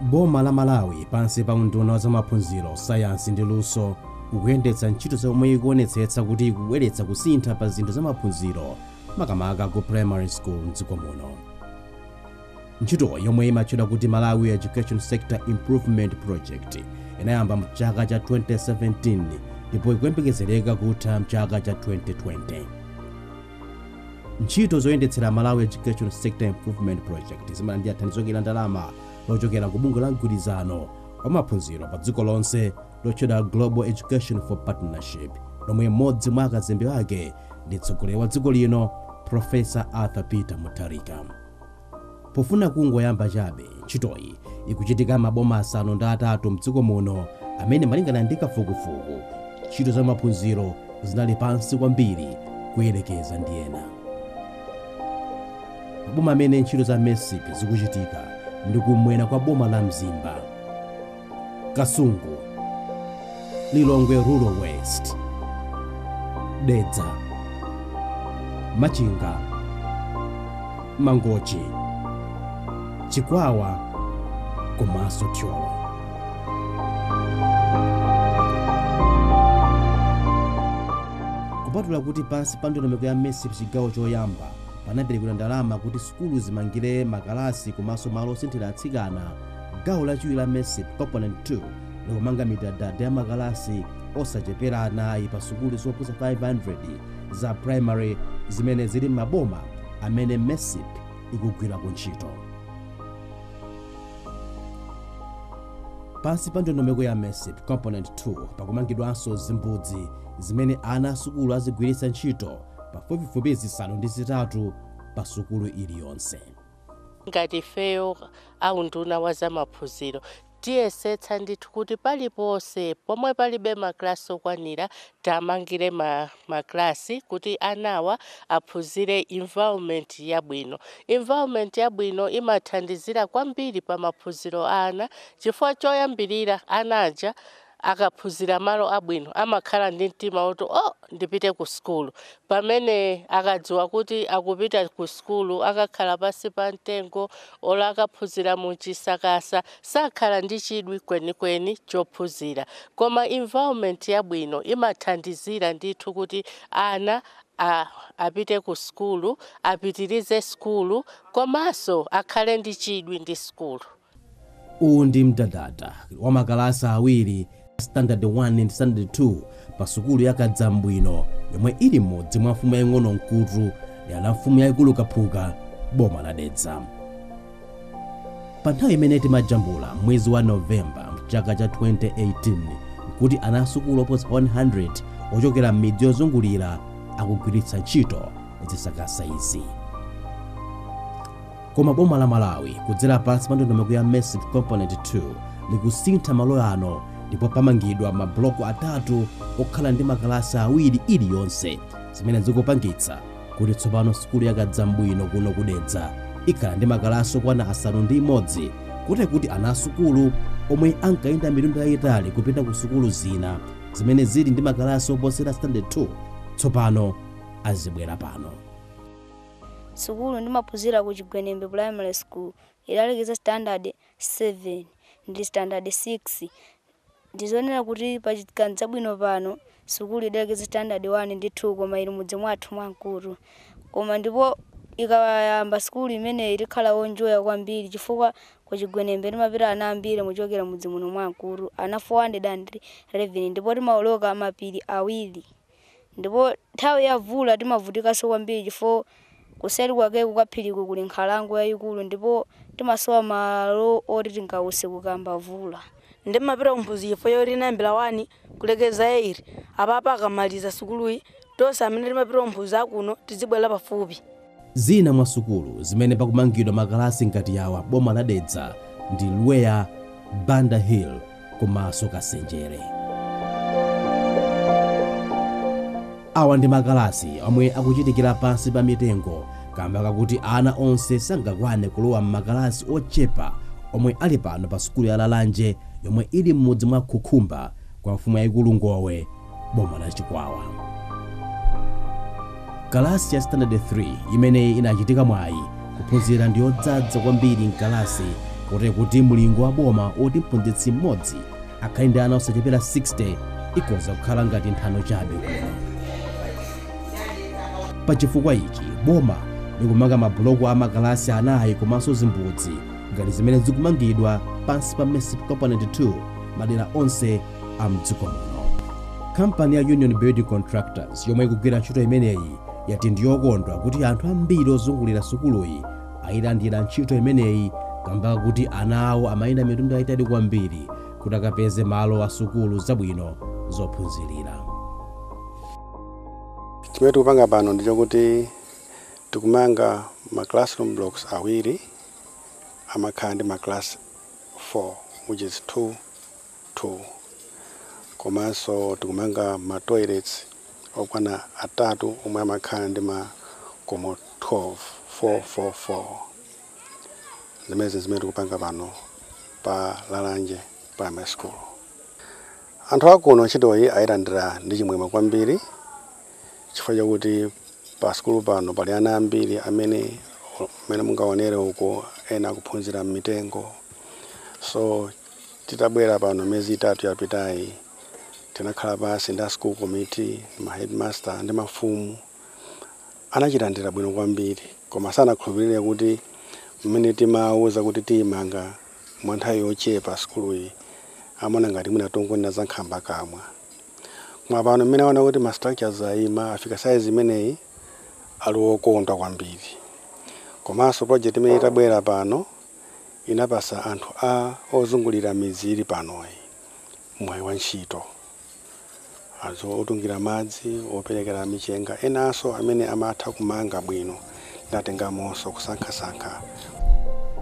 Boma la Malawi pansi pa unduna wa zamaphunziro, sayansi ndi luso ukuyendetsa ntchito zomwe ikuonetsetsa kuti ikubweretsa kusintha pa zinthu zamaphunziro makamaka ku primary school mdziko muno. Ntchito yomwe imatchedwa kuti Malawi Education Sector Improvement Project inayamba mchaka cha 2017 ndipo ikuyembekezereka kutha mchaka cha 2020. ntchito zoyendetsera malawi education sector improvement project zimalandira thandizo la ndalama lochokera ku bungwe la mgwirizano wa maphunziro pa dziko lonse lotchedwa global education for partnership lomwe mmodzi mwa akazembe ake ndi mtsogoleri wa dziko lino profesa arthur peter mutharika Pofuna kungoyamba chabe ntchitoyi ikuchitika maboma asanu ndi atatu mdziko muno amene malingana ndi kafukufuku ntchito za maphunziro zinali pansi kwambiri kuyelekeza ndi ena. Maboma amene ntchito za MESIP zikuchitika ndi kumwera kwa boma la Mzimba. Kasungu, Lilongwe Rural West, Dedza, Machinga, Mangochi, Chikwawa komanso Thyolo. Kupatula kuti pansi pa ndondomeko ya MESIP chigawo choyamba panaperekedwa ndalama kuti sukulu zimangire makalasi komanso malo osinthira atsikana gawo lachiwiri la mesip component 2 likumanga midadada ya makalasi osachepera anayi pa sukulu zoposa 500 za primary zimene zili m'maboma amene mesip ikugwira ku ntchito pansi pa ndondomeko ya mesip component 2 pakumangidwanso zimbudzi zimene ana asukulu azigwiritsa ntchito pafupifupi zisanu ndi zitatu pa sukulu iliyonse ngati ifeyo A unduna wa za maphunziro tiyesetsa ndithu kuti paliponse pomwe palibe ma class okwanira tiamangire ma class kuti anawa aphunzire environment yabwino. Environment yabwino imathandizira kwambiri pa maphunziro a ana chifukwa choyambilira ana aja akaphunzira malo abwino amakhala ndi mtima woti oh ndipite ku sukulu pamene akadziwa kuti akupita ku sukulu akakhala pansi pa mtengo olo akaphunzira mu chisakasa sakhala ndi chidwi kwenikweni chophunzira koma environment yabwino imathandizira ndithu kuti ana apite ku sukulu apitirize sukulu komanso akhale ndi chidwi ndi sukulu Uwu ndi mdadada wa makalasi awiri a Standard 1 ndi Standard 2 pa sukulu ya Kadzambwino yomwe ili m'mudzi mwa mfumu yaing'ono Mkutu dera la mfumu yaikulu Kaphuka boma la Dedza. Pa nthawi imene timajambula mwezi wa Novemba mchaka cha 2018 nkuti ana asukulu oposa 100 ochokera m'midzi yozungulira akugwiritsa ntchito zisakasa izi. Koma boma la Malawi kudzera pansi pa ndondomeko ya MESIP Component 2 likusintha malo ano ndipo pamangidwa mabuloko atatu okhala ndi makalasi awiri iliyonse zimene zikupangitsa kuti tsopano sukulu ya Kadzambwino kuno ku Dedza ikhala ndi makalasi okwana asanu ndi imodzi kotero kuti ana asukulu omwe ankayenda mitunda yayitali kupita ku sukulu zina zimene zili ndi makalasi oposera standard 2 tsopano azibwera pano Sukulu ndimaphunzira ku Chigwenembe Primary School idalekeza standard 7 ndi standard 6. Ndizonena kuti pa Kadzambwino pano sukulu idalekeza standard 1 ndi 2 koma ili mudzi mwathu mwa Mkutu. Koma ndipo ikayamba sukulu imeneyi tikhala onjoya kwambiri chifukwa ku Chigwenembe timapita ana ambiri kuchokera mudzi muno mwa Mkutu, ana 411 ndipo timaoloka mapiri awiri. Ndipo nthawi ya mvula timavutikanso kwambiri chifukwa kuseri kwake kukaphiriko kuli nkhalango yayikulu ndipo timasowa malo oti tingause kukayamba mvula. Nde ndimapita ku Mphunzi chifukwa choti inayambira 1 kulekeza 8. Apapa akamaliza sukuluyi, tonse amene timapita ku Mphunzi akuno tidzibwelera pafupi. Zina mwa sukulu zimene pakumangidwa makalasi ngati yawa boma la Dedza ndi Lweya, Banda Hill komaso Kasenjere. Awa ndi makalasi omwe akuchitikira pansi pa mitengo kamba kakuti ana onse sangakwane kulowa m'makalasi ochepa omwe ali pano pa sukulu ya Lalanje yomwe ili m'mudzi mwa Khukhumba kwa mfumu yaikulu Ngowe boma la chikwawa kalasi ya standard 3 imene inachitako mwayi kuphunzira ndi yodzadza kwambiri mkalasi kotero kuti mlingo wa boma oti mphunzitsi mmodzi akhale ndi ana osachepera 60 ikoza kukhala ngati nthano chabe kuno pa chifukwa ichi boma likumanga mabuloko a makalasi anayi komanso zimbudzi ngati zimene zikumangidwa pansi pa MESIP Component 2 madera onse a mdziko muno kampani ya union building contractors yomwe ikugwira ntchito imeneyi yati ndiyokondwa kuti anthu ambiri ozungulira sukuluyi ayilandira ntchito imeneyi kamba kuti ana awo amayenda mitunda yayitali kwambiri kuti akapeze malo a sukulu zabwino zophunzirira chimene tikupanga pano ndi chokuti tikumanga ma classroom blocks awiri amakhala ndi ma class 4 which is 2 2 komanso tikumanga ma toilets okwana atatu omwe amakhala ndi ma komo 12, 4 4 4. Zimenezi n'zimene tikupanga pano pa Lalanje Primary School. Anthu a kuno ntchitoyi ailandira ndi chimwemwe kwambiri chifukwa chakuti pa sukulu pano pali ana ambiri amene mmene mungaonere uko ena akuphunzira m'mitengo so Titabwera pano miyezi itatu yapitayi, tinakhala pansi ndi a school committee, ma headmaster ndi mafumu. Anachilandira bwino kwambiri koma sanakhulupirire kuti mmene timawauza kuti tiimanga mwa nthawi yochepa sukuluyi amaona ngati mwina tikungonena za nkhambakamwa. Koma pano mmene aona kuti ma structures aima afika size imeneyi ali okondwa kwambiri. Komanso project imeneyi itabwera pano. inapasa anthu a ozungulira midzi ili panoyi mwayi wa ntchito. Anthu otungira madzi, operekera michenga enanso amene amatha kumanga bwino tinatengamonso kusankhasankha.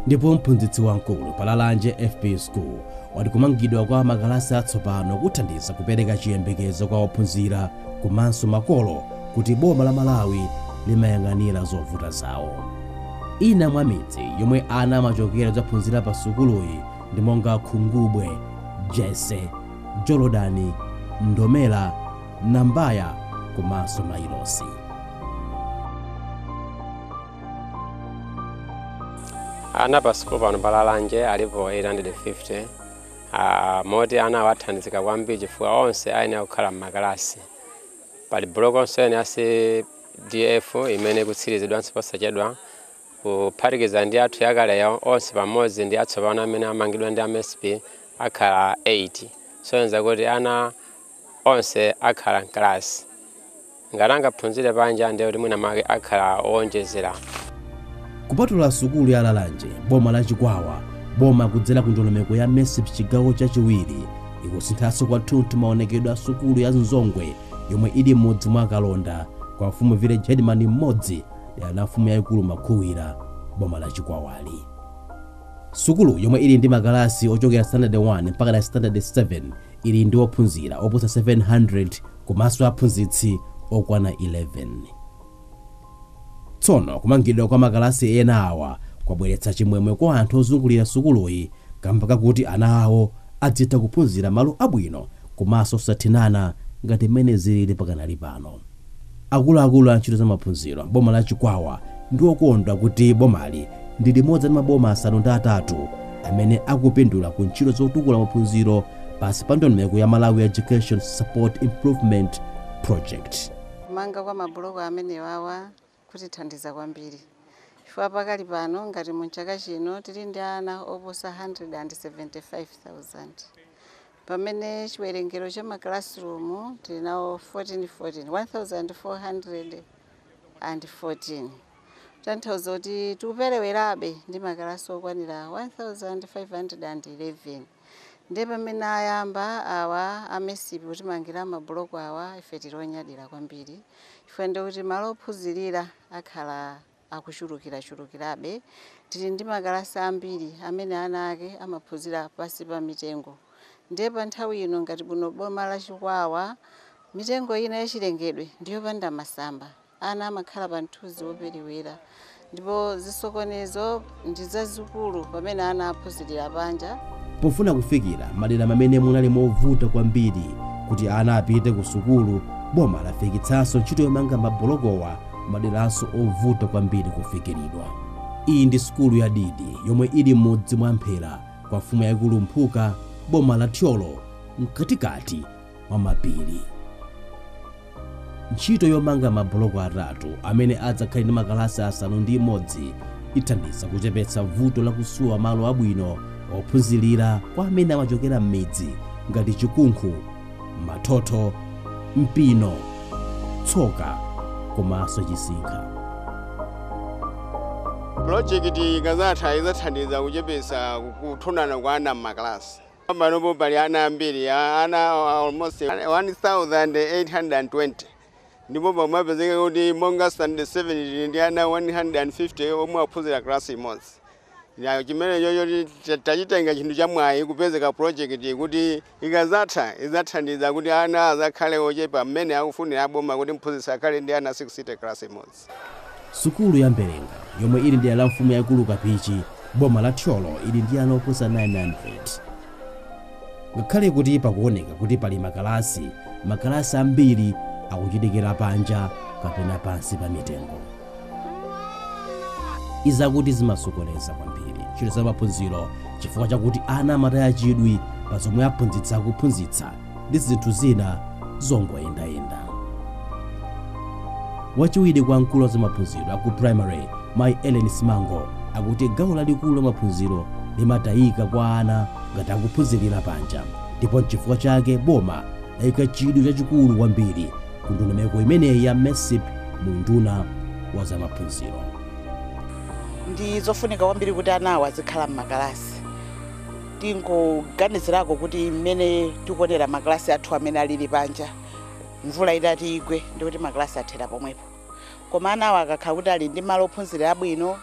Ndipo mphunzitsi wamkulu pa Lalanje FP School wati kumangidwa kwa makalasi atsopano kuthandiza kupereka chiyembekezo kwa ophunzira komanso makolo kuti boma la Malawi limayang'anira zovuta zawo. Ina mwa midzi yomwe ana amachokera kudzaphunzira pa sukuluyi ndi monga Khungubwe, Jese, Jolodani, Ndomera, Nambaya komanso Mailosi. Ana pa sukulu pano pa Lalanje alipo 850 ah, moti anawa athandizika kwambiri chifukwa onse ayenera kukhala m'makalasi. Pali bulokonso ina ya C DF, imene ikutsirizidwanso posachedwa, kuphatikiza ndi yathu yakaleyo, onse pamodzi ndi atsopano amene amangidwa ndi a MESIP akhala 8. Kusonyeza kuti ana onse akhala m'kalasi. Ngati angaphunzire panja ndiye kuti mwina mwake akhala owonjezera. Kupatula sukulu ya Lalanje, boma la Chikwawa boma kudzera ku ndondomeko ya MESIP chigawo chachiwiri ikusinthanso kwathunthu maonekedwe a sukulu ya Nzongwe, yomwe ili m'mudzi mwa Kalonda kwa mfumu village headman Mmodzi dera la mfumu yayikulu Makhuwira boma la Chikwawa. Sukulu yomwe ili ndi makalasi ochokera standard 1 mpaka na standard 7 ili ndi ophunzira oposa 700 komanso aphunzitsi okwana 11. Tsono kumangidwa kwa makalasi ena awa kwabweretsa chimwemwe kwa anthu ozungulira sukuluyi kamba kakuti ana awo adzitha kuphunzira malo abwino komanso osathinana ngati mmene zilili pakanali pano. Akuluakulu a ntchito za maphunziro m'boma la Chikwawa ndi okondwa kuti bomali ndi limodzi mwa maboma asanu ndi atatu amene akupindula ku ntchito zotukula maphunziro pansi pa ndondomeko ya Malawi Education Support Improvement Project. Kumanga kwa mabuloko amenewawa kutithandiza kwambiri chifukwa pakali pano ngati mu chaka chino tili ndi ana oposa 175,000 pamene chiwerengero cha ma classroom tili nawo 1414 1414 kutanthauza kuti tikuperewerabe ndi makalasi okwanira 1511. ndiye pamene ayamba awa a MESIP kutimangira mabuloko awa ife tili onyadira kwambiri chifukwa ndiye kuti malo ophunzirira akhala akuchulukirachulukirabe tili ndi makalasi ambiri amene ana ake amaphunzira pansi pa mitengo ndiye pa nthawi ino ngati muno m'boma la chikwawa mitengo ina yachilengedwe ndiyopanda masamba Ana amakhala pa mthunzi woperewera, ndipo zisokonezo ndi zazikulu pamene ana aphunzirira panja. Pofuna kufikira madera momwe munali movuta kwambiri kuti ana apite ku sukulu, boma lafikitsanso ntchito yomanga mabulokowa m'maderanso ovuta kwambiri kufikiridwa. Iyi ndi sukulu ya Didi yomwe ili m'mudzi mwa Mphera kwa mfumu yaikulu Mphuka, boma la Thyolo, mkatikati mwa mapiri. Ntchito yomanga mabuloko atatu amene adzakhale ndi makalasi asanu ndi limodzi ithandiza kuchepetsa vuto la kusowa malo abwino ophunzirira kwa ana amene amachokera m'midzi ngati Chikunkhu, Mathotho, Mpino, Tsoka komanso Chisinkha. Pulojekiti ikadzatha idzathandiza kuchepetsa kuthinana kwa ana m'makalasi. Panopo pali ana ambiri, ana almost 1,820 ndipo pamapezeka kuti monga standard 7 ndi ana 150 omwe aphunzira class imodzi. Chimenecho tachitenga chinthu cha mwayi kupezeka project kuti ikazatha izathandiza kuti ana azakhale ochepa mmene akufunira aboma kuti mphunzitsi akhale ndi ana 60 class imodzi. sukulu ya mbelenga yomwe ili m'dera la mfumu yaikulu kapichi boma la thyolo ili ndi ana oposa 900 ngakhale kuti pakuoneka kuti pali makalasi makalasi ambiri akuchitikira panja kapena pansi pa mitengo izakuti zimasokoneza kwambiri ntchito za maphunziro chifukwa chakuti ana amataya chidwi pa zomwe aphunzitsi akuphunzitsa ndi zinthu zina zongoyendayenda. Wachiwiri kwa mkulu wa zamaphunziro aku primary Mayi Ellen Simango akuti gawo lalikulu la maphunziro limatayika kwa ana ngati akuphunzirira panja ndipo n'chifukwa chake boma layika chidwi chachikulu kwambiri ku ndondomeko imeneyi ya MESIP mu unduna wa zamaphunziro. ndi zofunika kwambiri kuti anawo azikhala m'makalasi tingoganizirako kuti mmene tikuonera makalasi athu amene alili panja mvula itati igwe ndikuti makalasi athera pomwepo koma anawo akakhala kuti ali ndi malo ophunzirira abwino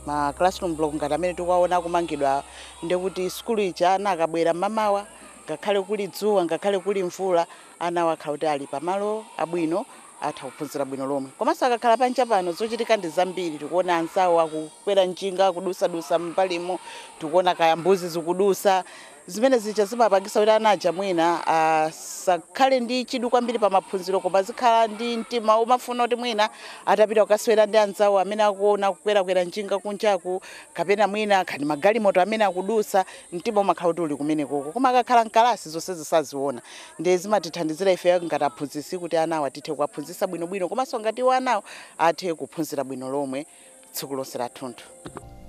ma classroom block ngati amene tikuwaona akumangidwa ndikuti sukulu ija ana akabwera mmamawa ngakhale kuli dzuwa ngakhale kuli mvula Anawo akhala kuti ali pa malo abwino, atha kuphunzira bwino lomwe. Komanso akakhala panja pano, zochitika ndi zambiri. Tikuona anzawo akukwera njinga, akudutsa-dutsa m'mbalimu, tikuona kaya mbuzi zikudutsa. Zimene zija zimapangitsa kuti ana aja mwina asakhale ndi chidwi kwambiri pa maphunziro koma azikhala ndi mtima womafuna kuti mwina atapita kukasewera ndi anzawo amene akuona akukwera-kwera njinga kunjaku kapena mwina kaya ndi magalimoto amene akudutsa, mtima umakhala kuti uli kumenekoko. Koma akakhala m'kalasi zonsezi saziona. ndiye zimatithandizira ife ngati aphunzitsi kuti anawo tithe kuwaphunzitsa bwinobwino komanso ngati iwo anawo athe kuphunzira bwino lomwe tsiku lonse lathunthu.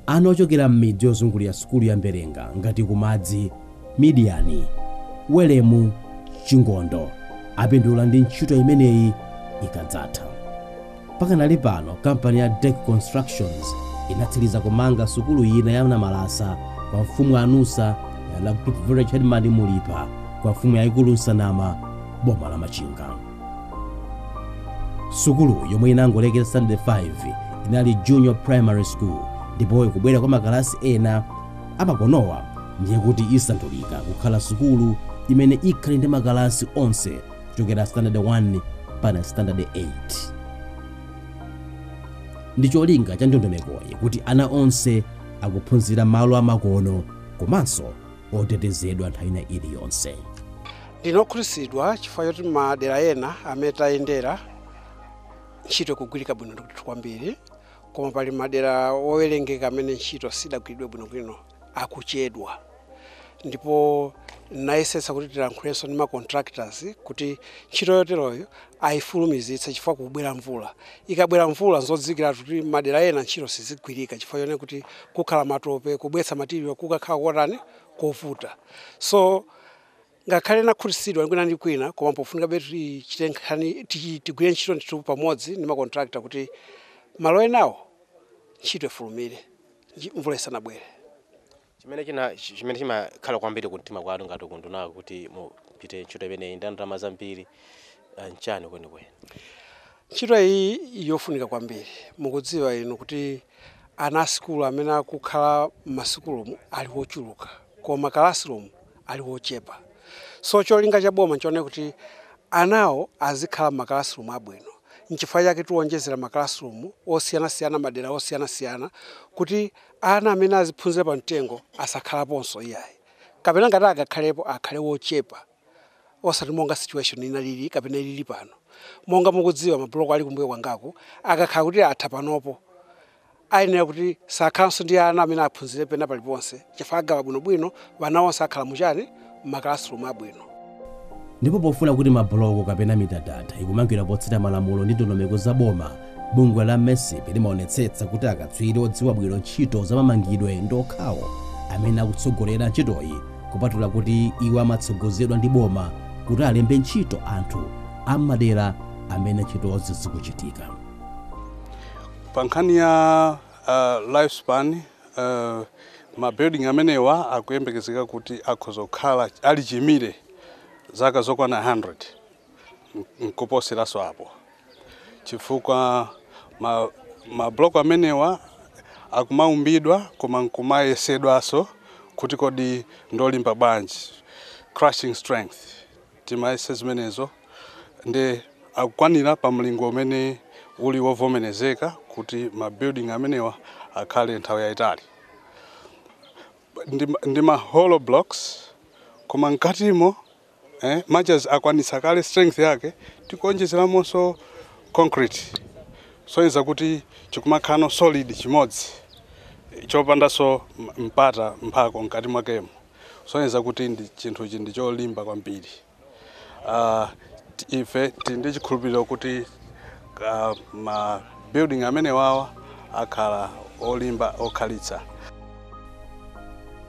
Ana ochokera m'midzi yozungulira sukulu ya Mberenga ngati ku Madzi, Midiyani, Welemu, Chingondo apindula ndi ntchito imeneyi ikadzatha. Pakanali pano, kampani ya Dec Constructions inatsiliza kumanga sukulu ina ya Namalasa kwa mfumu Anusa dera la Group Village Headman Mulipa kwa mfumu yaikulu Nsanama boma la Machinga. Sukulu yomwe imangolekera standard 5 inali junior primary school ndipo kubwera kwa makalasi ena amakonowa ndiye kuti isandulika kukhala sukulu imene ikhale ndi makalasi onse kuchokera standard 1 mpaka standard 8 ndi cholinga cha ndondomekoyi kuti ana onse akuphunzira malo amakono komanso otetezedwa nthawi ina iliyonse ndinokhutitsidwa chifukwa choti madera ena amene tayendera ntchito ikugwirika bwino ndithu kwambiri koma pali madera owerengeka amene ntchito sidagwiridwe bwinobwino akuchedwa ndipo nayesetsa kuti tilankhulenso ndi ma contractors kuti ntchito yoteroyo ayifulumizitse chifukwa kukubwera mvula. Ikabwera mvula nzodziwikiratu kuti madera ena ntchito siizigwirika chifukwa chonena kuti kukhala matope, kubweretsa material kukakhala kotani, kovuta. So ngakhale nakhutitsidwa kwina ndi kwina koma pofunikabe tichite nkhani, tigwire ntchito ndithu pamodzi ndi ma contractor kuti malo enawo ntchito ifulumire. nji- mvula isanabwere chimene china chi- chimene chimakhala kwambiri kumtima kwanu ngati kundunaku kuti mupite ntchito imeneyi ndi ndalama zambiri ah, n'chani kwenikweni ntchito iyi ili yofunika kwambiri mukudziwa inu kuti ana a sukulu amene akukhala m'masukulumu ali ochuluka koma kalasirumu ali wochepa so cholinga cha boma nchonena kuti anawo azikhala mma classroom abwino nchifukwa chake tikuwonjezera ma classroom osiyanasiyana madera osiyanasiyana kuti ana amene aziphunzira pa mtengo asakhalaponso iyayi kapena ngati akakhalepo akhale wochepa osati monga situation inalili kapena ilili pano monga mukudziwa ma block ali kumbuyo kwangako akakhala kuti atha panopo Ayenera kuti sakhalanso ndi ana amene aphunzire pena paliponse chifukwa agawa bwinobwino, wana onse akhala mu chani? Mma classroom abwino. Ndipo pofuna kuti ma buloko kapena mitadada ikumangidwa potsata malamulo ndi ndondomeko za boma, bungwe la Mesip limaonetsetsa kuti akatswiri odziwa bwino ntchito za mamangidwe ndi okhawo amene akutsogolera ntchitoyi kupatula kuti iwo amatsogozedwa ndi boma kuti alembe ntchito anthu a mmadera amene ntchitozi zikuchitika. Pa nkhani ya uh, life span uh, ma building amenewa akuyembekezeka kuti akhoza kukhala ali chimire zaka zokwana 100 nkuposeranso apo chifukwa ma, ma block amenewa akumaumbidwa koma nkumayesedwanso kuti kodi ndolimba bwanji crushing strength timayese zimenezo nde akukwanira pa mlingo umene uli wovomerezeka kuti ma building amenewa akhale nthawi yayitali ndi, ndi ma hollow blocks koma mkatimo eh, much as akwanitsa kale strength yake tikuonjezeramonso concrete kusonyeza kuti chikumakhalano solid chimodzi chopandanso mpata mphako mkati mwakemo kusonyeza kuti chinthuchi ndi cholimba kwambiri uh, ife tili ndi chikhulupiriro kuti uh, ma building amenewawa akhala olimba okhalitsa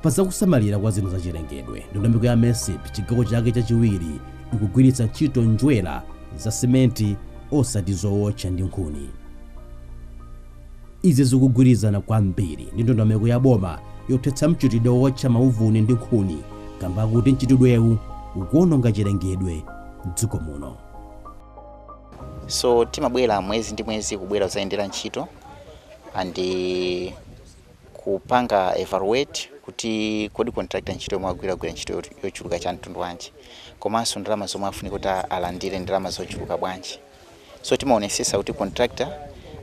pa zakusamalira kwa zinthu zachilengedwe ndondomeko ya mesip chigawo chake chachiwiri ikugwiritsa ntchito njerwa za simenti osati zowotcha ndi nkhuni Izi zikugwirizana kwambiri ndi ndondomeko ya boma yothetsa mchitidwe wowotcha mauvuni ndi nkhuni kamba kakuti mchitidwewu ukuwononga chilengedwe m'dziko muno. so timabwera mwezi ndi mwezi kubwera kuzayendera ntchito and eh, kupanga evaluate kuti kodi contractor ntchito yomwe agwira agwira ntchito yot- yochuluka cha mtundu wanji komanso ndalama zomwe afunika kuti alandire ndalama zochuluka bwanji so timaonesesa kuti contractor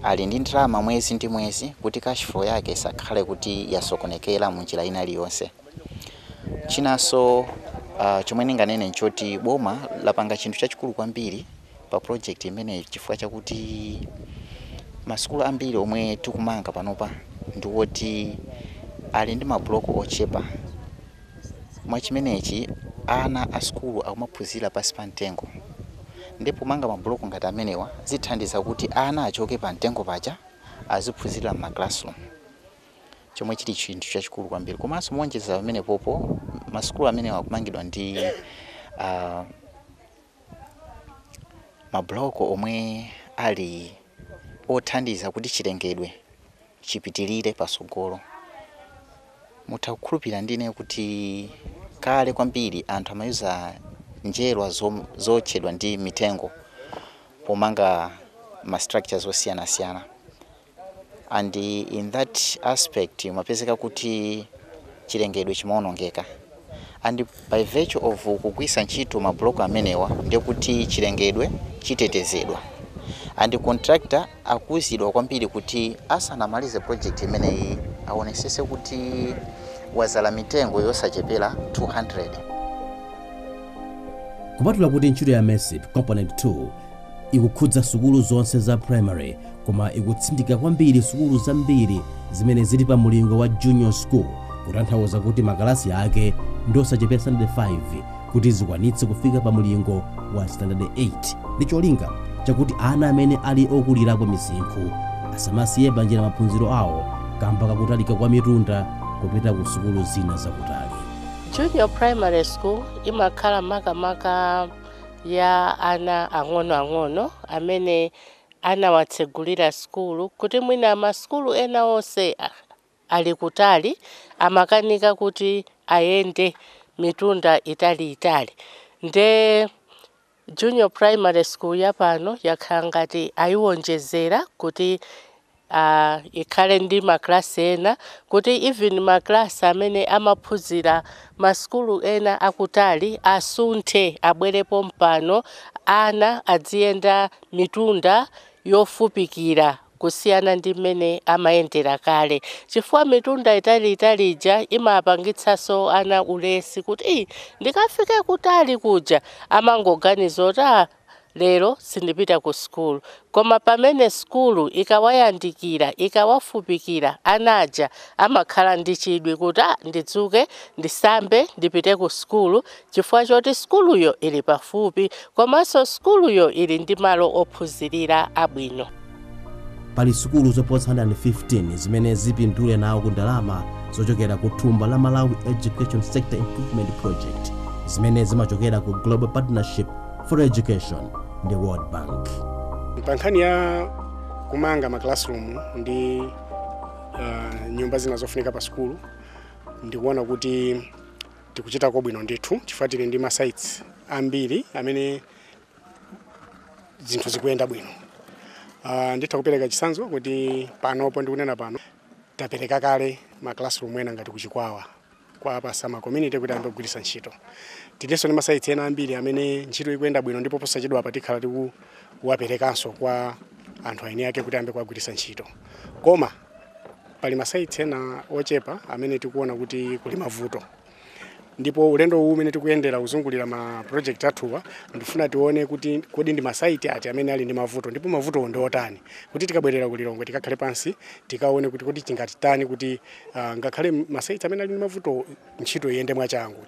ali ndi ndalama mwezi ndi mwezi kuti cash flow yake isakhale kuti yasokonekera munjira ina iliyonse chinaso chomwe ndinganene nchoti boma lapanga chinthu chachikulu kwambiri pa project imeneyi chifukwa chakuti masukulu ambiri omwe tikumanga panopa ndiwoti ali ndi ma block ochepa Mwa chimenechi ana a sukulu akumaphunzira pansi pa mtengo nde pomanga ma block ngati amenewa zithandiza kuti ana achoke pa mtengo paja aziphunzirira mma classroom chomwe chili chinthu chachikulu kwambiri komanso moonjezera pamenepopo ma sukulu amenewa akumangidwa ndi ah, ma block omwe ali othandiza kuti chilengedwe chipitilire patsogolo. Mutha kukhulupilira ndi ineyo kuti kale kwambiri anthu amayuza njerwa zootchedwa ndi mitengo pomanga ma structures osiyanasiyana and in that aspect umapezeka kuti chilengedwe chimaonongeka. and by virtue of kugwirisa ntchito ma block amenewa ndiye kuti chilengedwe chitetezedwa and contractor akuuzidwa kwambiri kuti asanamalize project imeneyi awonesese kuti wazala mitengo yosachepela 200. Kupatula kuti ntchito ya MESIP Component 2 Ikukhudza sukulu zonse za primary koma ikutsindika kwambiri sukulu zambiri zimene zili pa mulingo wa Junior School kutanthauza kuti makalasi ake ndi osachepera standard 5 kuti zikwanitse kufika pa mulingo wa standard 8 ndi cholinga chakuti ana amene ali okulirapo misinkhu asamasiye panjira maphunziro awo kamba kakutalika kwa mitunda kupita ku sukulu zina zakutali. Junior Primary School imakhala makamaka ya ana ang'onoang'ono amene anawatsegulira sukulu kuti mwina masukulu ena onse ali kutali amakanika kuti ayende mitunda italiitali nde junior primary school yapano yakhala ngati ayiwonjezera kuti a ikhale ndi ma class ena kuti even ma class amene amaphunzira ma sukulu ena akutali asunthe abwere pompano ana adziyenda mitunda yofupikira kusiyana ndi mmene amayendera kale chifukwa mitunda italiitali ija imapangitsaso ana ulesi kuti ii ndikafike kutali kuja amangoganiza kuti aa Lero sindipita ku sukulu. Koma pamene sukulu ikawayandikira, ikawafupikira, ana aja amakhala ndi chidwi kuti, ah, ndidzuke, ndisambe, ndipite ku sukulu chifukwa choti sukuluyo ili pafupi komanso sukuluyo ili ndi malo ophunzirira abwino. pali sukulu zoposa 115 zimene zipindule nawo ku ndalama zochokera ku thumba la malawi education sector improvement project zimene zimachokera ku global partnership for education ndi world bank pa nkhani ya kumanga ma classroom ndi uh, nyumba zina zofunika pa sukulu ndikuona kuti tikuchitako bwino ndithu chifukwa tili ndi ma sites ambiri amene zinthu zikuyenda bwino uh, nditha kupereka chisanzo kuti panopo ndikunena pano tapereka kale ma classroom ena ngati kuchikwawa kwa pasama community kuti ayambe kugwiritsa ntchito tilinso ndi ma sites ena ambiri amene ntchito ikuyenda bwino ndipo posachedwa apa tikhala tikuwaperekanso kwa anthu eni ake kuti ayambe kuwagwiritsa ntchito koma pali ma sites ena ochepa amene tikuona kuti kuli mavuto ndipo ulendo uwu umene tikuyendera kuzungulira ma project athuwa ndifuna tione kuti kodi ndi ma site ati amene ali ndi mavuto ndipo mavutowo ndi otani kuti tikabwerera ku lilongwe tikakhale pansi tikaone kuti kodi tingatitani kuti uh, ngakhale ma site amene ali ndi mavuto ntchito iyende mwachangu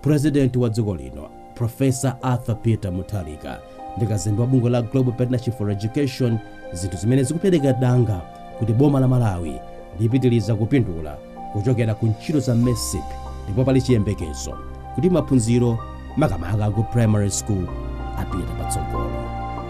President wa dziko lino Professor Arthur Peter Mutharika ndi kazembe wa bungwe la Global Partnership for Education, zinthu zimene zikupereka danga kuti boma la Malawi lipitirize kupindula kuchokera ku ntchito za MESIP ndipo pali chiyembekezo kuti maphunziro makamaka ku primary school apite patsogolo.